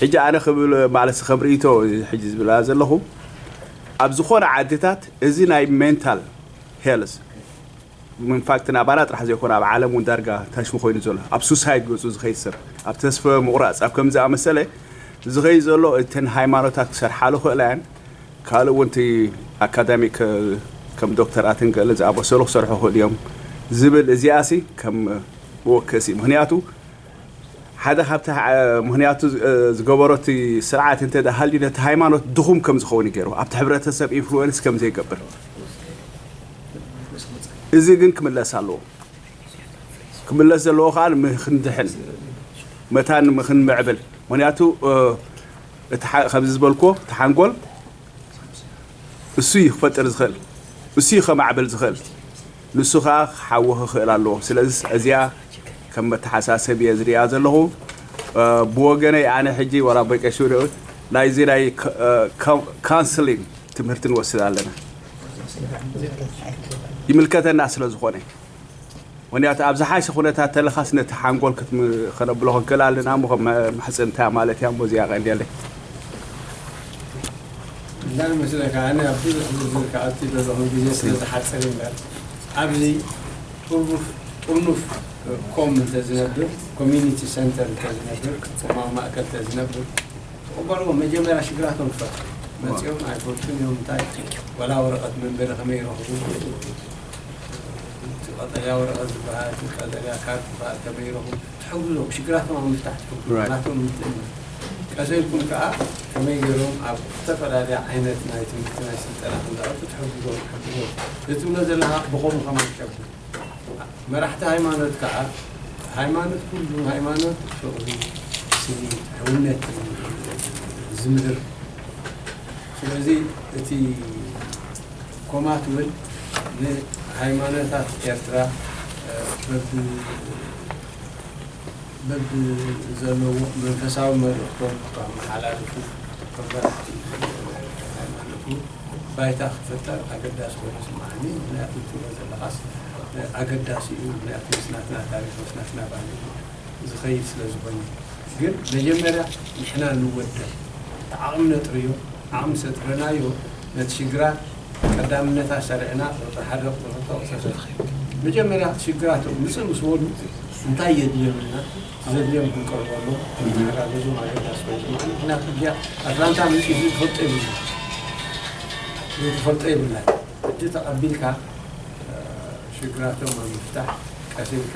ሕጂ ኣነ ክብል ማለት ከም ርእይቶ ሕጂ ዝብላ ዘለኹ ኣብ ዝኾነ ዓድታት እዚ ናይ ሜንታል ሄልስ ኢንፋክት ናባና ጥራሕ ዘይኮነ ኣብ ዓለም ውን ዳርጋ ታሽሙ ኮይኑ ዘሎ ኣብ ሱሳይድ ገጹ ዝኸይድ ሰብ ኣብ ተስፈ ምቑራጽ ኣብ ከምዚ ዝኣመሰለ ዝኸይድ ዘሎ እተን ሃይማኖታት ክሰርሓሉ ክኽእላ እየን ካልእ ውን እቲ ኣካዳሚክ ከም ዶክተር ኣትን ገለ ዝኣመሰሉ ክሰርሑ ክኽእሉ እዮም ዝብል እዚኣሲ ከም መወከሲ ምኽንያቱ ሓደ ካብቲ ምክንያቱ ዝገበሮ እቲ ስርዓት እንተ ሃልዩ ነቲ ሃይማኖት ድኹም ከም ዝኸውን እዩ ገይርዎ፣ ኣብቲ ሕብረተሰብ ኢንፍሉዌንስ ከም ዘይገብር። እዚ ግን ክምለስ ኣለዎ። ክምለስ ዘለዎ ከኣ ንክንድሕን መታን ንክንምዕብል ምክንያቱ ከምዚ ዝበልክዎ እቲ ሓንጎል እሱ እዩ ክፈጥር ዝኽእል እሱ እዩ ከማዕብል ዝኽእል ንሱ ከኣ ክሓዊ ክኽእል ኣለዎ። ስለዝስ እዚኣ ከም መተሓሳሰቢ እየ ዝርእያ ዘለኹ። ብወገነይ ኣነ ሕጂ ወላ በቄሱሪ ናይዚ ናይ ካውንስሊን ትምህርቲ ንወስድ ኣለና። ይምልከተና ስለ ዝኾነ። ምክንያቱ ኣብ ዝሓሸ ኩነታት ተለኻስ ነቲ ሓንጎል ክትም ከነብሎ ክንክእል ኣለና እሞ ከም መሕጽንታ ማለት እያ እሞ እዚኣ ቀንዴለይ።
እንታይ መስለካ ኣነ ኣብ ብዙሕ ዝርዝር ክኣቱ ዘለኹን ግዜ ስለ ዝሓጽር እምበር ኣብዚ ህርቡፍ ጥርኑፍ ኮም እንተ ዝነብር ኮሚኒቲ ሰንተር እንተ ዝነብር ኮማዊ ማእከል እንተ ዝነብር ትቕበልዎም መጀመርያ ሽግራቶም ትፈትሑ መጺኦም ኣይፈልጡን እዮም እንታይ ወላ ወረቐት መንበሪ ከመይ ይረኽቡ እቲ ቀጠልያ ወረቐት ዝበሃል እቲ ቀጠልያ ካርድ ከመይ ይረኽቡ ትሕግዞም ሽግራቶም ኣብ ምፍታሕ ትሕግዞም ናቶም ምትእምማን ቀዘይኩም ከኣ ከመይ ጌሮም ኣብ ዝተፈላለያ ዓይነት ናይ ትምህርቲ ናይ ስልጠና ከም ዝኣቱ ትሕግዞም ትሕግዞም ዘትብሎ ዘለካ ብከሙ ከማን ትሸብር መራሕቲ ሃይማኖት ከኣ ሃይማኖት ኩሉ ሃይማኖት ፍቅሪ ስኒት ሕውነት ዝምህር። ስለዚ እቲ ኮማ ትብል ንሃይማኖታት ኤርትራ በብ በብ ዘለዎ መንፈሳዊ መልእኽቶም ከመሓላልፉ እቶም መራሕቲ ሃይማኖት ባይታ ክፍጠር ኣገዳሲ ኮይኑ ይስምዓኒ። ምኽንያቱ እትብሎ ዘለኻስ ኣገዳሲ እዩ። ምኽንያቱ ምስ ናትና ታሪኽ ምስ ናትና ባህሊ ዝኸይድ ስለ ዝኾነ ግን መጀመርያ ንሕና ንወደብ እቲ ዓቕሚ ነጥርዮ ዓቕሚ ሰጥርናዮ ነቲ ሽግራት ቀዳምነታ ሰሪዕና ቁፅሪ ሓደ ቁፅሪ ክልተ ቁፅሪ ሰለስተ መጀመርያ እቲ ሽግራት ውፅእ ምስ በሉ እንታይ የድልዮም ኢልና እቲ ዘድልዮም ክንቀርበሎም ክንተሓጋገዞም ኣገዳሲ ኮይኑ ዝመዓሉ ምክንያቱ እዚኣ ኣትላንታ መፂኡ እዚ ትፈልጦ የብሉን እዚ ትፈልጦ የብላን ሕጂ ተቐቢልካ ሽግራቶም ኣብ ምፍታሕ ቀስ ኢልካ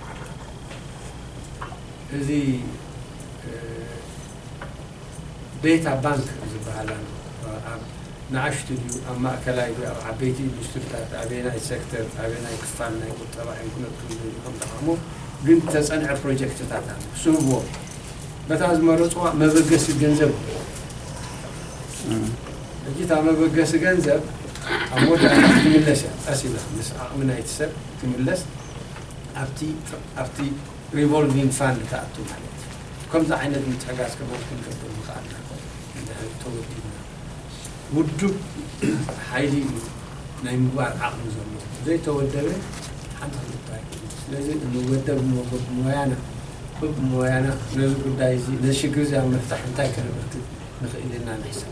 እዚ ቤታ ባንክ ዝበሃል ኣሎ ኣብ ንኣሽቱ ድዩ ኣብ ማእከላይ ድዩ ኣብ ዓበይቲ ኢንዱስትሪታት ኣበየናይ ሴክተር ኣበየናይ ክፋል ናይ ቁጠባ እዮም ክነጥፉ ዝደልዩ ከም ጠቓሙ ግን ዝተጸንዐ ፕሮጀክትታት ኣሎ ክስህብዎ በታ ዝመረጽዋ መበገሲ ገንዘብ ሕጂ እታ መበገሲ ገንዘብ ኣብ መወዳእታ ትምለስ እያ ቀስ ኢላ ምስ ዓቕሚ ናይቲ ሰብ ትምለስ ኣብቲ ኣብቲ ሪቮልቪንግ ፋንድ ክኣቱ ማለት እዩ። ከምዚ ዓይነት ምትሕጋዝ ከማን ክንገብር ምኽኣልና ኮን እንድሕር ተወዲብና። ውዱብ ሓይሊ እዩ ናይ ምግባር ዓቕሚ ዘለዎ። ዘይተወደበ ሓንቲ ክልተ ኣይኮነን። ስለዚ ንወደብ እሞ በብሞያና በብሞያና ነዚ ጉዳይ እዚ ነዚ ሽግር እዚ ኣብ ምፍታሕ እንታይ ከነበርክት ንኽእል ኢልና ንሕሰብ።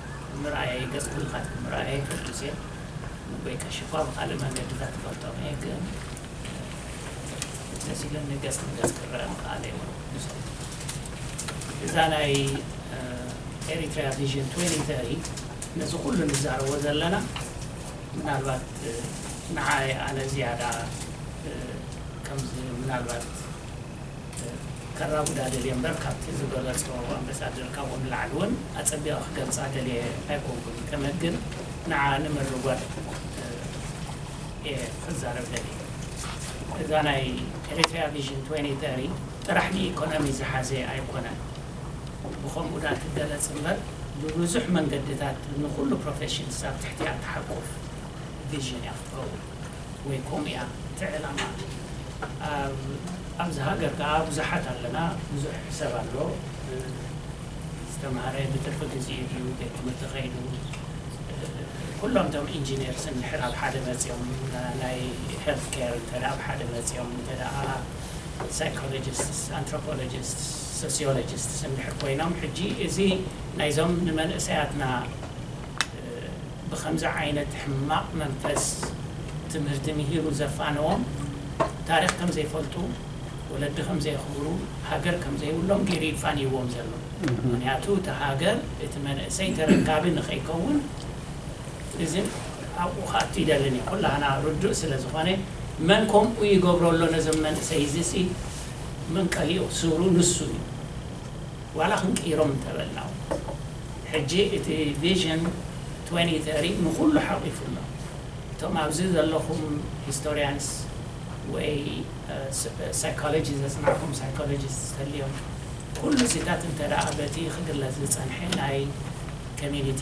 ምርኣየይ ገጽ ኩልኻትኩም ምርኣየይ ኩሉ ግዜ ወይ ከሽፋ ብኻልእ መንገድታት እፈልጦም እየ ግን ደስ ኢሉኒ ገጽ ንገጽ ክረኣ ምኽኣለይ እውን ምስቲ እዛ ናይ ኤሪትሪያ ቪዥን 2030 ነዚ ኩሉ ንዛረቦ ዘለና ምናልባት ንዓይ ኣነ ዝያዳ ከምዚ ምናልባት ከራጉዳ ደልየ እምበር ካብቲ ዝገለጾ ኣምበሳደር ካብኡ ንላዕሊ ውን ኣጸቢቀ ክገልጻ ደልየ ኣይኮንኩን ከመት ግን ንዓ ንምርጓድ እየ ክዛረብ ደልየ እዛ ናይ Eritrea Vision 2030 ጥራሕ ንኢኮኖሚ ዝሓዘ ኣይኮነን ብከምኡ ድኣ ትገለጽ እምበር ብብዙሕ መንገድታት ንኩሉ ፕሮፌሽንስ ኣብ ትሕቲኣ ትሓቁፍ ቪዥን እያ ክትከውን። ወይ ኮም ኢያ እቲ ዕላማ ኣብዚ ሃገር ካኣ ብዙሓት ኣለና ብዙሕ ሰብ ኣሎ ዝተማህረ ብትርፊ ግዚኡ ድዩ ቤት ትምህርቲ ከይዱ ኩሎም እቶም ኢንጂነርስ እንድሕር ኣብ ሓደ መጽዮም ናይ ሄልት ኬር እንተ ኣብ ሓደ መጽዮም እንተ ሳይኮሎጂስትስ ኣንትሮፖሎጂስትስ ሶሲዮሎጂስትስ እንድሕር ኮይኖም ሕጂ እዚ ናይዞም ንመንእሰያትና ብኸምዚ ዓይነት ሕማቕ መንፈስ ትምህርቲ ምሂሩ ዘፋነዎም፣ ታሪኽ ከም ዘይፈልጡ፣ ወለዲ ከም ዘየኽብሩ፣ ሃገር ከም ዘይብሎም ገይሩ እዩ ፋንይዎም ዘሎ። ምኽንያቱ እታ ሃገር፣ እቲ መንእሰይ ተረካቢ ንኸይከውን እዚ ኣብኡ ክኣቱ ኣይደልን እዩ። ኩላህና ርዱእ ስለ ዝኾነ መን ከምኡ ይገብሮ ኣሎ ነዞም መንእሰይ እዚሲ መንቀሊኡ ስሩ ንሱ እዩ። ዋላ ክንቅይሮም እንተበልና ውን ሕጂ እቲ ቪዥን ትወኒ ተሪ ንኹሉ ሓቒፉ ኣሎ። እቶም ኣብዚ ዘለኹም ሂስቶርያንስ ወይ ሳይኮሎጂ ዘጽናዕኩም ሳይኮሎጂስትስ ተልዮም ኩሉ እዚታት እንተድኣ በቲ ክግለጽ ዝጸንሐ ናይ ኮሚኒቲ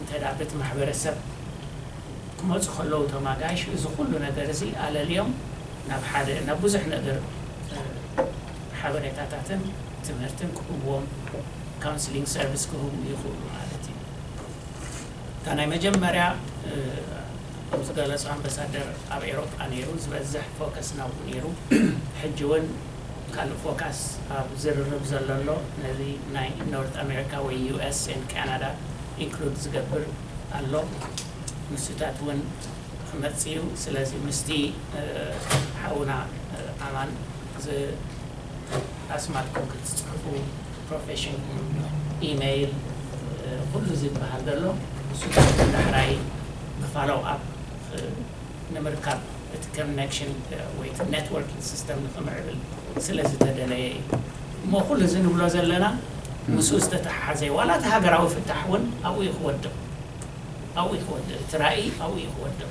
እንተድኣ በቲ ማሕበረሰብ ክመጹ ከለዉ እቶም ኣጋይሽ እዚ ኩሉ ነገር እዚ ኣለልዮም ናብ ሓደ ናብ ብዙሕ ነገር ሓበሬታታትን ትምህርትን ክህቡዎም፣ Counseling Service፣ ክህቡ ይኽእሉ ማለት እዩ። እታ ናይ መጀመርያ ከም ዝገለጾ ኣምበሳደር ኣብ ኤሮጳ ነይሩ ዝበዝሕ ፎከስ ናብኡ ነይሩ። ሕጂ እውን ካልእ ፎካስ ኣብ ዝርርብ ዘሎ ኣሎ ነዚ ናይ ኖርት ኣሜሪካ ወይ US and Canada ኢንክሉድ ዝገብር ኣሎ ንሱታት እውን ክመጽእ እዩ። ስለዚ ምስቲ ሓውና ኣማን እዚ ኣስማትኩም ክትጽሕፉ ፕሮፌሽንኩም ኢመይል ኩሉ እዚ ዝብሃል ዘሎ ንሱ ካብቲ ዳሕራይ ንፋሎው ኣፕ ንምርካብ እቲ ከነክሽን ወይ እቲ ኔትወርኪንግ ሲስተም ንኽምዕብል ስለ ዝተደለየ እዩ እሞ ኩሉ እዚ ንብሎ ዘለና ምስኡ ዝተተሓሓዘ እዩ ዋላ እቲ ሃገራዊ ፍታሕ እውን ኣብኡ እዩ ክወድቕ ኣብኡ እዩ ክወድቕ እቲ ራእይ ኣብኡ እዩ ክወድቕ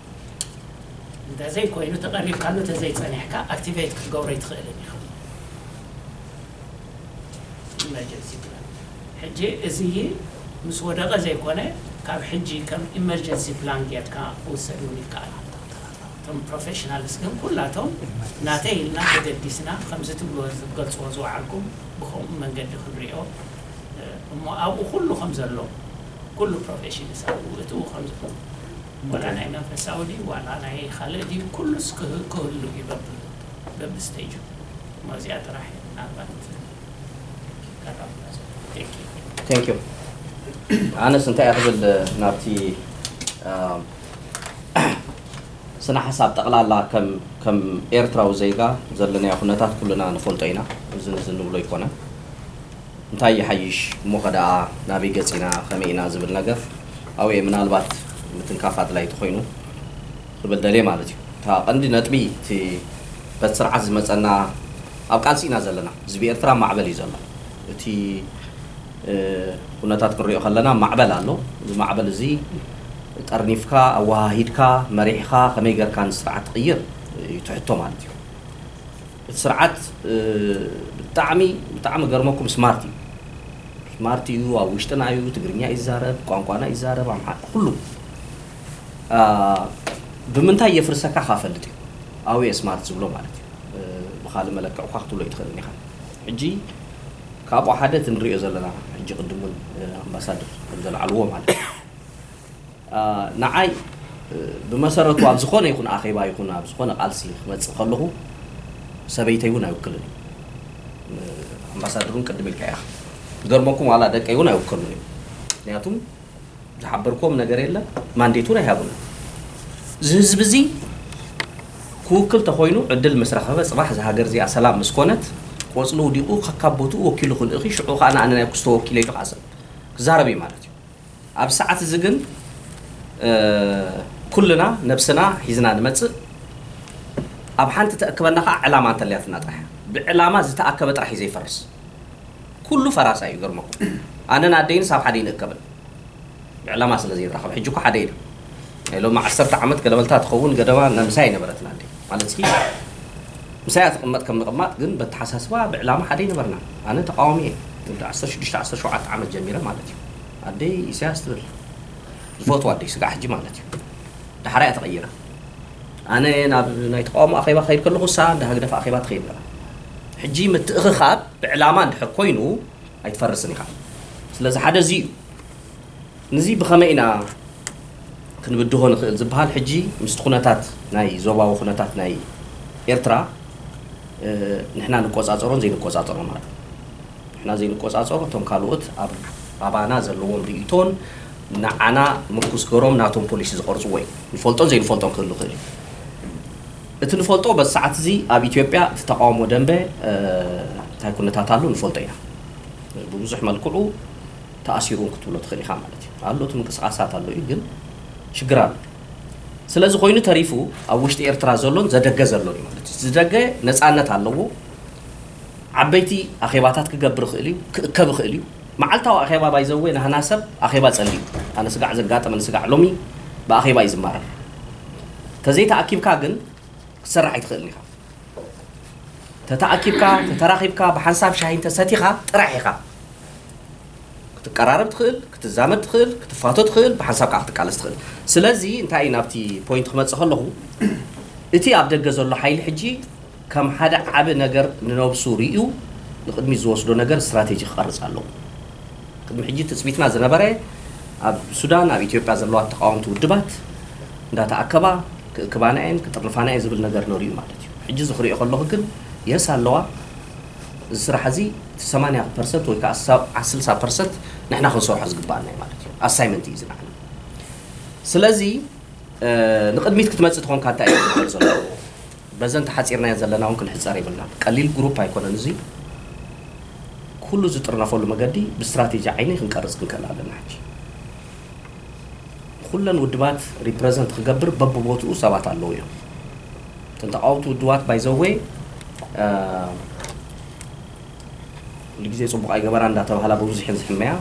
እንተዘይ ኮይኑ ተቀሪብካሉ ተዘይ ጸኒሕካ ኣክቲቨይት ክትገብሮ ኣይትክእልን ኢካ ኢመርጀንሲ ፕላን ሕጂ እዚይ ምስ ወደቀ ዘይኮነ ካብ ሕጂ ከም ኢመርጀንሲ ፕላን ጌርካ ክውሰድ ውን ይከኣል እቶም ፕሮፌሽናልስ ግን ኩላቶም ናተይ ኢልና ተገዲስና ከምዚ ትብልዎ ዝትገልጽዎ ዝወዓልኩም ብከምኡ መንገዲ ክንሪኦ እሞ ኣብኡ ኩሉ ከም ዘሎ ኩሉ ፕሮፌሽንስ ኣብኡ እትው ከም ዋላ ናይ መንፈሳዊ ድዩ ዋላ ናይ ኻልእ ድዩ ኩሉስ ክህሉ እዩ በቢ
ስተጁ እሞ እዚኣ ጥራሕ እየ ምናልባት ከራኽባ ዘለኹ ቴንክ ዩ Thank you ኣነስ እንታይ እየ ክብል ናብቲ ኣም፣ ስነ ሓሳብ ጠቕላላ ከም ከም ኤርትራዊ ዜጋ ዘለናዮ ኩነታት ኩልና ንፈልጦ ኢና እዚ እዚ ንብሎ ኣይኮነን እንታይ ይሓይሽ እሞ ከደኣ ናበይ ገጺና ከመይ ኢና ዝብል ነገር ኣውየ ምናልባት ምትንካፍ ኣድላይ ተኾይኑ ክብል ደልየ ማለት እዩ። እታ ቀንዲ ነጥቢ እቲ በቲ ስርዓት ዝመጸና ኣብ ቃልሲ ኢና ዘለና ህዝቢ ኤርትራ ኣብ ማዕበል እዩ ዘሎ እቲ ኩነታት ክንሪኦ ከለና ማዕበል ኣሎ እዚ ማዕበል እዚ ጠርኒፍካ ኣወሃሂድካ መሪሕኻ ከመይ ገርካ ንስርዓት ትቕይር እዩ እቲ ሕቶ ማለት እዩ። እቲ ስርዓት ብጣዕሚ ብጣዕሚ ክገርመኩም ስማርት እዩ ስማርት እዩ ኣብ ውሽጥና እዩ ትግርኛ እዩ ዝዛረብ ቋንቋና እዩ ዝዛረብ ኣምሓ ኩሉ ብምንታይ የፍርሰካ ካ ፈልጥ እዩ ኣውየ ስማርት ዝብሎ ማለት እዩ ብካልእ መለክዕ እኳ ክትብሎ ኣይትኽእልን ኢኻ ሕጂ ካብኡ ሓደ እቲ ንሪኦ ዘለና ሕጂ ቅድም እውን ኣምባሳደር ከምዘልዓልዎ ማለት እዩ ንዓይ ብመሰረቱ ኣብ ዝኾነ ይኹን ኣኼባ ይኹን ኣብ ዝኾነ ቃልሲ ክመጽእ ከለኹ ሰበይተይ እውን ኣይውክልን እዩ። ኣምባሳደር እውን ቅድም ኢልካዮ ኢኻ። ዝገርመኩም ዋላ ደቀይ እውን ኣይውከሉን እዮም። ምክንያቱም ዝሓበርክዎም ነገር የለ ማንዴት እውን ኣይሃቡንን። እዚ ህዝቢ እዚ ክውክል ተኾይኑ ዕድል ምስ ረኸበ ጽባሕ እዛ ሃገር እዚኣ ሰላም ምስ ኮነት ቆጽሊ ውዲቑ ከካብ ቦትኡ ወኪሉ ክልእኽ እዩ። ሽዑ ከኣ ንኣነ ናይ ኩስቶ ወኪለይ ኢሉ ከኣ ክዛረብ እዩ ማለት እዩ። ኣብዚ ሰዓት እዚ ግን ኩልና ነብስና ሒዝና ንመጽእ፣ ኣብ ሓንቲ ተእክበና ከኣ ዕላማ እንተልያትና ጥራሕ እያ። ብዕላማ ዝተኣከበ ጥራሕ እዩ ዘይፈርስ። ኩሉ ፈራሳይ እዩ ይገርመኩም። ኣነን ኣደይንስ ኣብ ሓደ ኣይንእከብን። ብዕላማ ስለ ዘይንራኸብ። ሕጂ እኮ ሓደ ኢና። ናይ ሎሚ ዓሰርተ ዓመት ገለመልታ ትኸውን ገደማ ምሳይ ኣይነበረትን ኣደይ። ማለትሲ ምሳያ ትቕመጥ ከም ንቕማጥ ግን በተሓሳስባ ብዕላማ ሓደ ኣይነበርናን። ኣነ ተቓዋሚ እየ። ወዲ ዓሰርተ ሽዱሽተ ዓሰርተ ሸውዓተ ዓመት ጀሚረ ማለት እዩ። ኣደይ ኢሰያስ ትብል ዝፈትዋ ኣደይ ስጋዕ ሕጂ ማለት እዩ ዳሕራ እያ ተቐይራ ኣነ ናብ ናይ ተቃውሞ ኣኼባ ክኸይድ ከለኹ እሳ እንዳ ህግደፍ ኣኼባ ትኸይድ ነራ ሕጂ ምትእኽኻብ ብዕላማ እንድሕር ኮይኑ ኣይትፈርስን ኢኻ ስለዚ ሓደ እዚ እዩ ንዚ ብኸመይ ኢና ክንብድሆ ንኽእል ዝበሃል ሕጂ ምስቲ ኩነታት ናይ ዞባዊ ኩነታት ናይ ኤርትራ ንሕና ንቆፃፀሮን ዘይንቆፃፀሮ ማለት ንሕና ዘይንቆጻጸሮ እቶም ካልኦት ኣብ ኣባና ዘለዎም ርእይቶን ንዓና ምርኩስ ገሮም ናቶም ፖሊሲ ዝቐርጽዎ እዩ። ንፈልጦን ዘይንፈልጦን ክህሉ ይኽእል እዩ። እቲ ንፈልጦ በዚ ሰዓት እዚ ኣብ ኢትዮጵያ እቲ ተቓውሞ ደንበ እንታይ ኩነታት ኣሎ ንፈልጦ ኢና። ብብዙሕ መልክዑ ተኣሲሩ እውን ክትብሎ ትኽእል ኢኻ ማለት እዩ። ኣሎ እቲ ምንቅስቓሳት ኣሎ እዩ ግን ሽግር ኣሎ። ስለዚ ኮይኑ ተሪፉ ኣብ ውሽጢ ኤርትራ ዘሎን ዘደገ ዘሎን እዩ ማለት እዩ። ዝደገ ነጻነት ኣለዎ። ዓበይቲ ኣኼባታት ክገብር ይኽእል እዩ፣ ክእከብ ይኽእል እዩ። መዓልታዊ ኣኼባ ባይ ዘ ዌይ ናህና ሰብ ኣኼባ ጸልዩ ኣነ ስጋዕ ዘጋጠመኒ ስጋዕ ሎሚ ብኣኼባ እዩ ዝማረር ተዘይ ተኣኪብካ ግን ክትሰርሕ ኣይትኽእልን ኢኻ ተተኣኪብካ ተተራኺብካ ብሓንሳብ ሻሂ እንተ ሰቲኻ ጥራሕ ኢኻ ክትቀራረብ ትኽእል ክትዛመድ ትኽእል ክትፋቶ ትኽእል ብሓንሳብ ከዓ ክትቃለስ ትኽእል ስለዚ እንታይ ናብቲ ፖይንት ክመጽእ ከለኹ እቲ ኣብ ደገ ዘሎ ሓይሊ ሕጂ ከም ሓደ ዓቢ ነገር ንነብሱ ርእዩ ንቕድሚት ዝወስዶ ነገር ስትራቴጂ ክቐርጽ ኣለዎ። ቅድሚ ሕጂ ትጽቢትና ዝነበረ ኣብ ሱዳን ኣብ ኢትዮጵያ ዘለዋ ተቓወምቲ ውድባት እንዳተኣከባ ክእክባና'የን ክጥርንፋና'የን ዝብል ነገር ነሩ'ዩ ማለት'ዩ። ሕጂ እዚ ክርእዮ ከለኹ ግን የስ ኣለዋ እዚ ስራሕ እዚ እቲ ሰማንያ ፐርሰት ወይ ከኣ ስልሳ ፐርሰት ንሕና ክንሰርሖ ዝግብኣና'ዩ ማለት'ዩ። ኣሳይመንት'ዩ እዚ ንዓና። ስለዚ ንቕድሚት ክትመጽእ ተኾንካ እንታይ'ዩ ክግበር ዘለዎ? በዘን ተሓጺርናየን ዘለና ውን ክንሕጸር የብልናን። ቀሊል ግሩፕ ኣይኮነን እዚ ኩሉ ዝጥርነፈሉ መገዲ ብስትራቴጂ ዓይኒ ክንቀርጽ ክንክእል ኣለና ሕጂ። ንኩለን ውድባት ሪፕረዘንት ክገብር በብቦትኡ ሰባት ኣለዉ እዮም። እተን ተቓወምቲ ውድባት ባይ ዘ ዌይ ኩሉ ግዜ ጽቡቕ ኣይገበራን እንዳተባህላ ብምዙሕን ዝሕመያ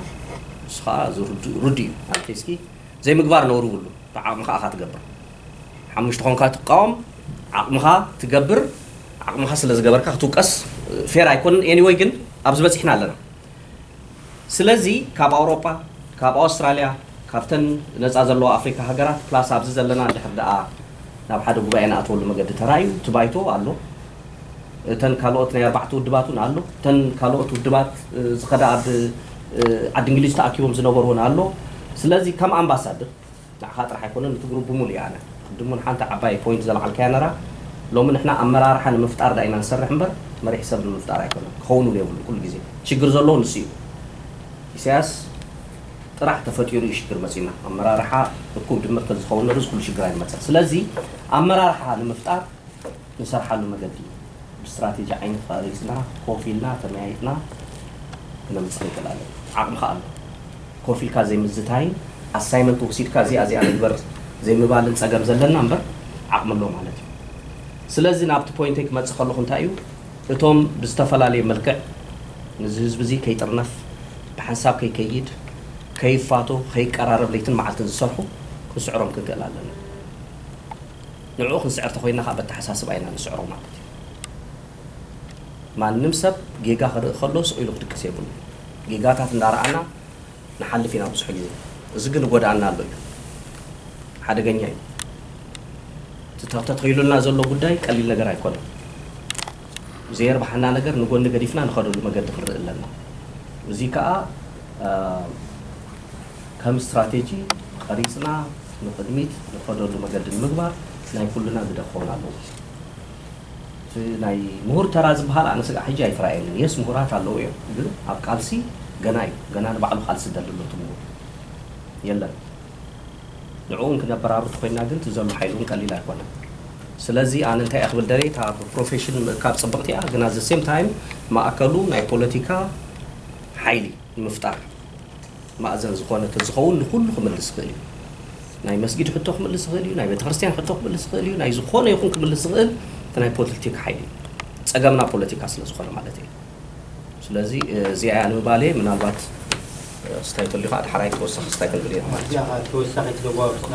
ንሱ ከኣ እዚ ርዱእ እዩ። ኣንተ እስኪ ዘይምግባር ነውሪ ውሉን ብዓቕምኻ እኻ ትገብር ሓሙሽተ ኾንካ ትቃወም ዓቕምኻ ትገብር ዓቕምኻ ስለ ዝገበርካ ክትውቀስ ፌር ኣይኮንን ኤኒወይ ግን ኣብዚ በጺሕና ኣለና ስለዚ ካብ ኣውሮጳ ካብ ኣውስትራልያ ካብተን ነጻ ዘለዋ ኣፍሪካ ሃገራት ፕላስ ኣብዚ ዘለና እንድሕር ደኣ ናብ ሓደ ጉባኤ ንኣትወሉ መገዲ ተራእዩ እቲ ባይቶ ኣሎ እተን ካልኦት ናይ ኣርባዕተ ውድባት ውን ኣሎ እተን ካልኦት ውድባት ዝኸዳ ኣብ ዓዲ እንግሊዝ ተኣኪቦም ዝነበሩ ውን ኣሎ ስለዚ ከም ኣምባሳድር ንዓኻ ጥራሕ ኣይኮነን እቲ ግሩብ ብሙሉኡ ኣነ ቅድም ውን ሓንቲ ዓባይ ፖይንት ዘልዓልካያ ነራ ሎሚ ንሕና ኣመራርሓ ንምፍጣር ድኣ ኢና ንሰርሕ እምበር መሪሕ ሰብ ንምፍጣር ኣይኮነን ክኸውን ውን የብሉን ኩሉ ግዜ ሽግር ዘለዎ ንሱ እዩ ኢሳያስ ጥራሕ ተፈጢሩ እዩ ሽግር መጺና ኣመራርሓ እኩብ ድምር ተዝኸውን ነሩ እዚ ኩሉ ሽግር ኣይመጸን ስለዚ ኣመራርሓ ንምፍጣር ንሰርሓሉ መገዲ ብስትራቴጂ ዓይኒ ተቘሪጽና ኮፍ ኢልና ተመያይጥና ክነምጽእ ንኽእል ኣለና። ዓቕሚ ከኣ ኣሎ። ኮፍ ኢልካ ዘይምዝታይን ኣሳይመንት ወሲድካ እዚኣ እዚኣ ንግበር ዘይምባልን ጸገም ዘለና እምበር ዓቕሚ ኣሎ ማለት እዩ። ስለዚ ናብቲ ፖይንተይ ክመጽእ ከለኹ እንታይ እዩ እቶም ብዝተፈላለየ መልክዕ ንዚ ህዝቢ እዚ ከይጥርነፍ ብሓንሳብ ከይከይድ ከይፋቶ ከይቀራረብ ለይትን መዓልትን ዝሰርሑ ክንስዕሮም ክንክእል ኣለና። ንዕኡ ክንስዕር ተኾይንና ከኣ በተሓሳስባ ኢና ንስዕሮ ማለት እዩ። ማንም ሰብ ጌጋ ክርኢ ከሎ ስቕ ኢሉ ክድቅስ የብሉን። ጌጋታት እንዳረኣና ንሓልፍ ኢና ብዙሕ ግዜ። እዚ ግን እጎድኣና ኣሎ እዩ። ሓደገኛ እዩ። እቲ ተተኺሉልና ዘሎ ጉዳይ ቀሊል ነገር ኣይኮነን። ብዘየርብሓና ነገር ንጎኒ ገዲፍና ንኸደሉ መገዲ ክንርኢ ኣለና። እዚ ከኣ ከም ስትራቴጂ ቐሪጽና፣ ንቕድሚት ንኸደሉ መገዲ ንምግባር ናይ ኩልና ግደ ክኸውን ኣለዎ። እቲ ናይ ምሁር ተራ ዝበሃል ኣነ ስጋዕ ሕጂ ኣይተራእየንን። የስ ምሁራት ኣለዉ እዮም ግን ኣብ ቃልሲ ገና እዩ ገና ንባዕሉ ቃልሲ ዝደሊ ኣሎ እቲ ምሁር የለን። ንዕኡ እውን ክነበራሩ ተኾይንና ግን እቲ ዘሎ ሓይሊ እውን ቀሊል ኣይኮነን። ስለዚ ኣነ እንታይ እየ ክብል ደልየ እታ ብፕሮፌሽን ምእካብ ፅብቕቲ እያ ግን ኣት ዘ ሴም ታይም ማእከሉ ናይ ፖለቲካ ሓይሊ፣ ንምፍጣር ማእዘን ዝኾነ ተዝኸውን ንኹሉ ክምልስ ይኽእል እዩ። ናይ መስጊድ ሕቶ ክምልስ ይኽእል እዩ፣ ናይ ቤተክርስትያን ሕቶ ክምልስ ይኽእል እዩ፣ ናይ ዝኾነ ይኹን ክምልስ ዝኽእል እቲ ናይ ፖልቲካ ሓይሊ እዩ። ጸገምና ፖለቲካ ስለ ዝኾነ ማለት እየ። ስለዚ እዚኣ እያ ንምባለየ ምናልባት ስታይ ተልዩ ከዓ ድሓራይ ተወሳኺ ስታይ ክንብል ኢና ማለት እዩ። ተወሳኺ
ተጓብትና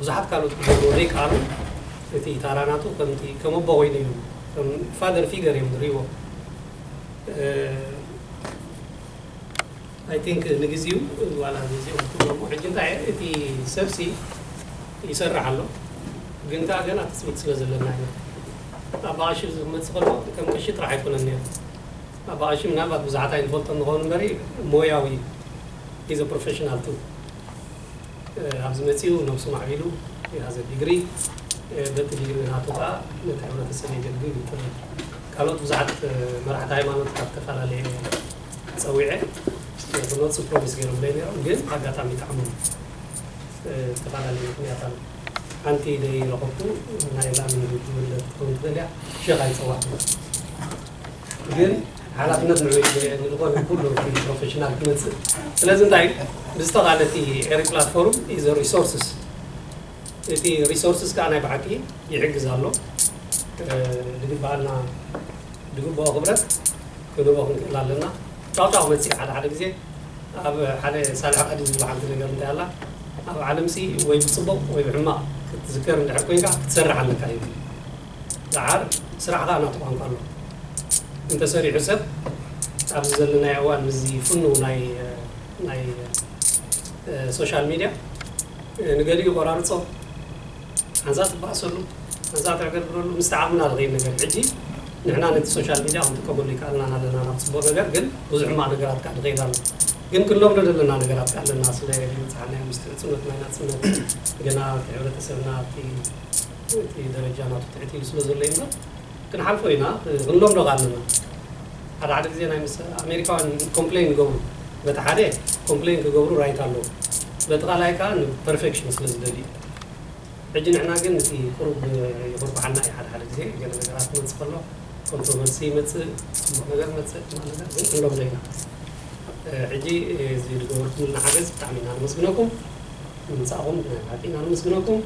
ብዙሓት ካልኦት ክገብርዎ ዘይከኣሉ እቲ ታራ ናቱ ከምቲ ከም ኣቦ ኮይኑ እዩ ከም ፋደር ፊገር እዮም ዝርእይዎ ኣይ ቲንክ ንግዚኡ ዋላ ንዚኦም ክገብርዎ ሕጂ እንታይ እቲ ሰብሲ ይሰርሕ ኣሎ ግን ከዓ ገና ትፅቢት ስለ ዘለና ኢና ኣባ ቀሺ ዝመፅእ ከሎ ከም ቀሺ ጥራሕ ኣይኮነን ነይሩ ኣባ ቀሺ ምናልባት ብዙሓት ኣይንፈልጦ ንኸውን እምበሪ ሞያዊ ኢዘ ፕሮፌሽናል ቱ ኣብዚ መጺኡ ነብሱ ማዕቢሉ የሃዘ ዲግሪ በቲ ዲግሪ ናቱ ከኣ ነቲ ሕብረተሰብ የገልግል እዩ ትብል ካልኦት ብዙሓት መራሕቲ ሃይማኖት ካብ ተፋላለየ ጸዊዐ ክመጹ ፕሮሚስ ገይሮምለይ ነይሮም ግን ብኣጋጣሚ ይጥዓሞም ዝተፋላለየ ምክንያት ኣሎ ሓንቲ ደይ ረከብኩ ናይ ላሚ ውዲ ወለድ ክትከውን ትደልያ ሸክ ኣይጸዋዕኩን። ግን ሓላፍነት ንዑ እዩ ዝልዒል ንዝኾነ ኩሉ ከም ፕሮፌሽናል ክመጽእ ስለዚ እንታይ እዩ ብዝተኻለ እቲ ኤሪ ፕላትፎርም ኢዘ ሪሶርስስ እቲ ሪሶርስስ ከዓ ናይ ብሓቂ ይሕግዝ ኣሎ ዝግበኣና ዝግበኦ ክብረት ክንህቦ ክንክእል ኣለና ጫውጫው ክመጽእ እዩ ሓደ ሓደ ግዜ ኣብ ሓደ ሳልሕ ቀዲ ዝብላ ሓንቲ ነገር እንታይ ኣላ ኣብ ዓለምሲ ወይ ብፅቡቕ ወይ ብሕማቕ ክትዝከር እንድሕር ኮይንካ ክትሰርሕ ኣለካ ይብል ደሓር ስራሕ ከኣ ናቱ ቋንቋ ኣለዎ እንተሰሪሑ ሰብ ኣብዚ ዘለናዮ እዋን ምስዚ ፍኑው ናይ ናይ ሶሻል ሚድያ ንገሊኡ ይቆራርጾ ሓንሳእ ትባኣሰሉ ሓንሳእ ትዕገርግረሉ ምስቲ ዓቕምና ዝኸይድ ነገር እዩ ሕጂ ንሕና ነቲ ሶሻል ሚድያ ክንጥቀመሉ ይከኣልና ኣለና ናብ ጽቡቕ ነገር ግን ብዙሕ ሕማቕ ነገራት ከኣ ይኸይድ ኣሎ ግን ክንለምዶ ዘለና ነገራት ከኣ ኣለና ስለ ዘይበጻሕናዮ ምስቲ ሕጽኖት ናይ ናጽነት ገና እቲ ሕብረተሰብና ኣብቲ እቲ ደረጃ ናቱ ትሕት ኢሉ ስለ ዘሎ እዩ እምበር ክንሓልፎ ኢና ክንለምዶ ከኣ ኣለና ሓደ ሓደ ግዜ ናይ ምስ ኣሜሪካውያን ኮምፕለይን ይገብሩ በቲ ሓደ ኮምፕለይን ክገብሩ ራይት ኣለዎም በቲ ካልኣይ ከኣ ን ፐርፌክሽን ስለ ዝደልዩ ሕጂ ንሕና ግን እቲ ቁሩብ ይኹርኩሓና እዩ ሓደ ሓደ ግዜ ገለ ነገራት ክመጽእ ከሎ ኮንትሮቨርሲ ይመጽእ ጽቡቕ ነገር ይመጽእ ሕማቕ ነገር ግን ክንለምዶ ኢና ሕጂ እዚ ዝገበርኩምልና ሓገዝ ብጣዕሚ ኢና ነመስግነኩም ንምምጻእኹም ብናይ ብሓቂ ኢና ነመስግነኩም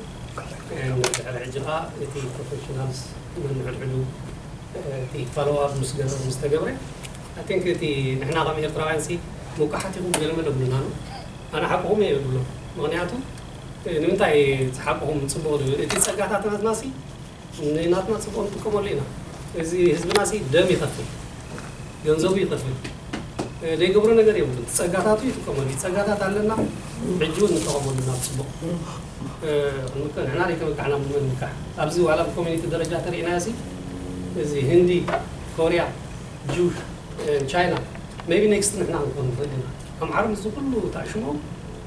ድሕሪ ሕጂ ከኣ እቲ ፕሮፈሽናልስ ነንሕድሕዱ እቲ ፎሎው ኣፕ ምስ ገበሩ ምስ ተገብረ ኣይ ቲንክ እቲ ንሕና ከም ኤርትራውያንሲ ሙቃሓት ኢኹም ገለመለ ብሉና'ሎ ኣነ ሓቅኹም እየ ዝብሎ ምኽንያቱ ንምንታይ ዝሓቅኹም ጽቡቕ ዝብል እቲ ጸጋታትናትናሲ ንናትና ጽቡቅ ንጥቀመሉ ኢና እዚ ህዝብና ሲ ደም ይኸፍል ገንዘቡ ይኸፍል ዘይገብሮ ነገር የብሉን ጸጋታቱ ይጥቀመሉ እዩ ጸጋታት ኣለና ሕጂ ውን ንጠቀመሉ ናብ ጽቡቅ ክንምከ ንሕና ዘይተመካሕና ብመን ንምካሕ ኣብዚ ዋላ ብኮሚኒቲ ደረጃ ተሪኢናዮ ሲ እዚ ህንዲ ኮርያ ጁሽ ቻይና ሜይቢ ኔክስት ንሕና ክንኮን ንኽእል ኢና ኣምሓሩ ምስዚ ኩሉ ተዕሽምኦም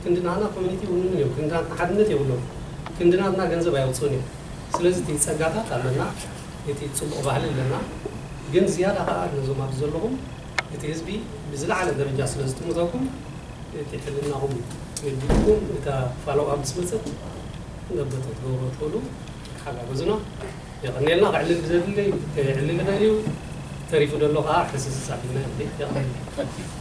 ክንዲ ናህና ኮሚኒቲ ይውንኑ እዮም ክንዲ ናትና ሓድነት የብሎምን ክንዲ ናትና ገንዘብ ኣየውጽኡን እዮም ስለዚ እቲ ጸጋታት ኣለና እቲ ጽቡቅ ባህሊ ኣለና ግን ዝያዳ ከኣ ነዞም ኣብዚ ዘለኹም እቲ ህዝቢ ብዝለዓለ ደረጃ ስለ ዝጥምተኩም እቲ ሕልናኹም እዩ ገዲድኩም እታ ፋሎው ኣፕ ምስ መጸት ዘበጠ ትገብርዎ ትኽእሉ ተሓጋገዙና የቀንየልና ክዕልል ዘድሊ ክዕልል ይኽእል እዩ ተሪፉ ደሎ ከኣ ሕስስስ ኣቢልና የቀንየልና።